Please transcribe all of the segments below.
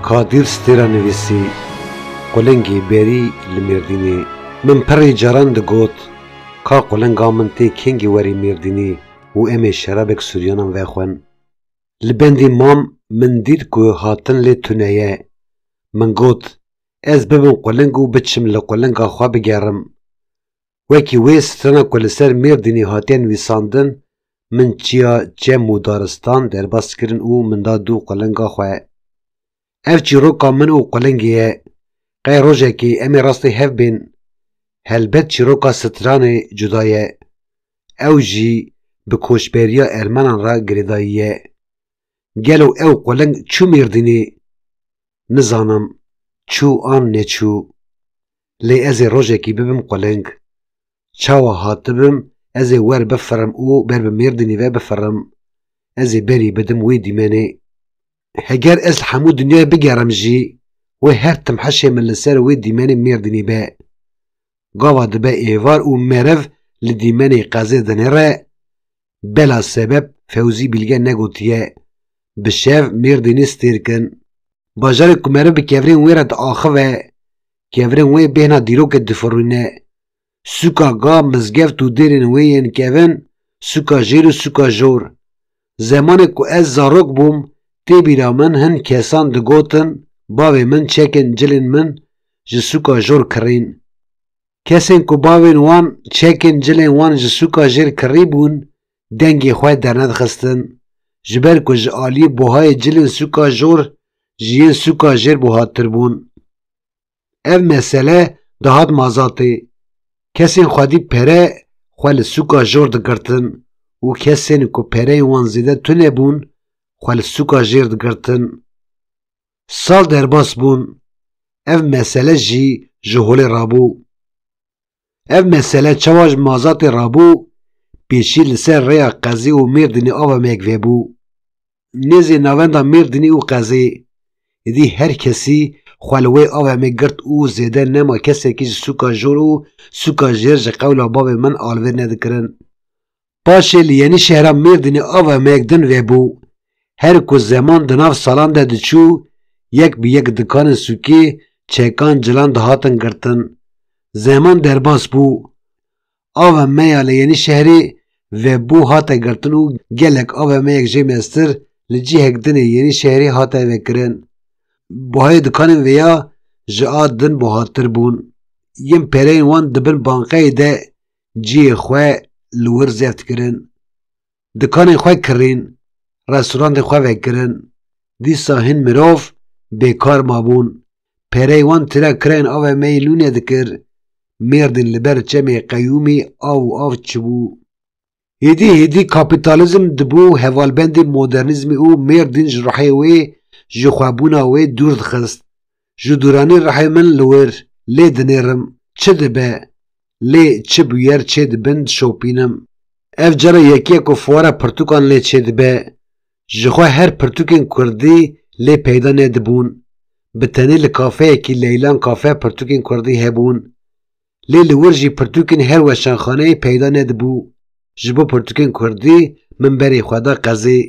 Kadir Stêra nivîsî, Qulingî berî li Mêrdînê. Min pirrî caran digot, Ka qulinga min tê kengî werî Mêrdînî û em ê şerabek Sûryanan vexwin. Li bendî mam min dît ku hatin lê tune ye. Min got, Ez bibim quling û biçim li qulinga xwe bigerim. Wekî wê strana ku li ser Mêrdînê hatiye nivîsandin, Min çiya çem û daristan derbas kirin û min da du qulênga xwe. Ev çîroka min û qulêngê ye. Qey rojekê em ê rastî hev bên? Helbet çîroka stranê cuda ye. Ew jî bi koçberiya ermenan re girêdayî ye. Gelo ew quling çû Mêrdînê? Nizanim çû an neçû. Lê ez ê rojekî bibim quling. Çawa hatibim ez ê wer bifirim û ber bi Mêrdînê ve bifirim. Ez ê berî bidim wê dîmenê. Heger ez li hemû dinyayê bigerim jî, wê her tim hişê min li ser wê dîmenê Mêrdînê be. Gava dibe êvar û meriv li dîmenê qezê dinêre, Bela sebep Fewzî Bîlge negotiye bi şev Mêrdînê stêr kin. Bajarê ku meriv bi kevirên wê re diaxive, kevirên wê bêhna dîrokê difirûne. Sûka ga, mizgeft û dêrên wê yên kevin, sûka jêr û sûka jor. Zemanê ku ez zarok bûm, tê bîra min hin kesan digotin, bavê min çekên cilên min ji sûka jor kirîn. Kesên ku bavên wan çekên cilên wan ji sûka jêr kirîbûn dengê xwe dernedixistin, ji ber ku ji aliyê buhayê cilên sûka jor ji yên sûka jêr buhattir bûn. Ev mesele dihat mazatê, kesên xwedî pere xwe li sûka jor digirtin û kesên ku pereyên wan zêde tune bûn xwe li sûka jêr digirtin. Sal derbas bûn, ev mesele jî ji holê rabû. Ev mesele çawa ji Mazatê rabû, pêşî li ser rêya Qezê û Mêrdînê ava me yek vebû. Nêzî navenda Mêrdînê û Qezê, êdî her kesî xwe li wê ava me girt û zêde nema kesekî ji sûka jor û sûka jêr ji qewla bavê min alivêr nedikirin. Paşê li Yenîşehra Mêrdînê ava me yek din vebû. Her ku zeman di nav salan de diçû, yek bi yek dikanên sûkê, çekan, cilan dihatin girtin. Zeman derbas bû. Ava me ya li Yenîşehrê vebû hate girtin û gelek ava me yek jê meztir li cihek dinê Yenîşehrê hate vekirin. Buhayê dikanên vê ya ji a din buhattir bûn. Yên pereyên wan di bin banqeyê de cihê xwe li wir zeft kirin, dikanên xwe kirîn, restorantên xwe vekirin, dîsa hin mirov bêkar mabûn, pereyê wan tira kirayên avê me yê Lûnê dikir, mêrdîn li ber çemê qeyûmî av û av çibû. Hêdî hêdî kapîtalîzm dibû hevalbendê modernîzmê û mêrdîn ji ruhê wê, ji xwebûna wê dûr dixist. Ji dûranê rihê min li wir lê dinêrim çi dibe lê çi bûyer çê dibin dişopînim. Ev cara yekiye ku fuara pirtûkan lê çê dibe. Ji xwe her pirtûkên kurdî lê peyda nedibûn. Bi tenê li kafeyekî Leylan Cafe pirtûkên kurdî hebûn. Lê li wir jî pirtûkên her weşanxaneyê peyda nedibû. Ji bo pirtûkên kurdî min berê xwe da qezê.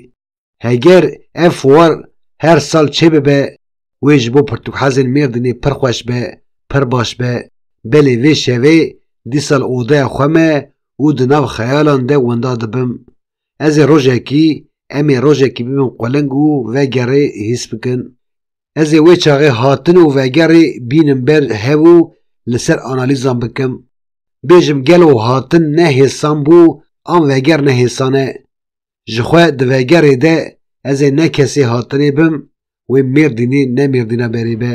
Heger ev fuar her sal çêbibe wê ji bo pirtûkxezên Mêrdînê pir xweş be, pir baş be. Belê vê şevê dîsal odeya xwe me û di nav xeyalan de winda dibim. Ez ê rojekî, em ê rojekî bibin quling û vegerê hîs bikin. Ez ê wê çaxê hatin û vegerê bînim ber hev û li ser analîzan bikim. Bêjim gelo hatin ne hêsan bû an veger ne hêsan e. Ji xwe di vegerê de ez ê ne kesê hatinê bim wê Mêrdînê ne Mêrdîna berê be.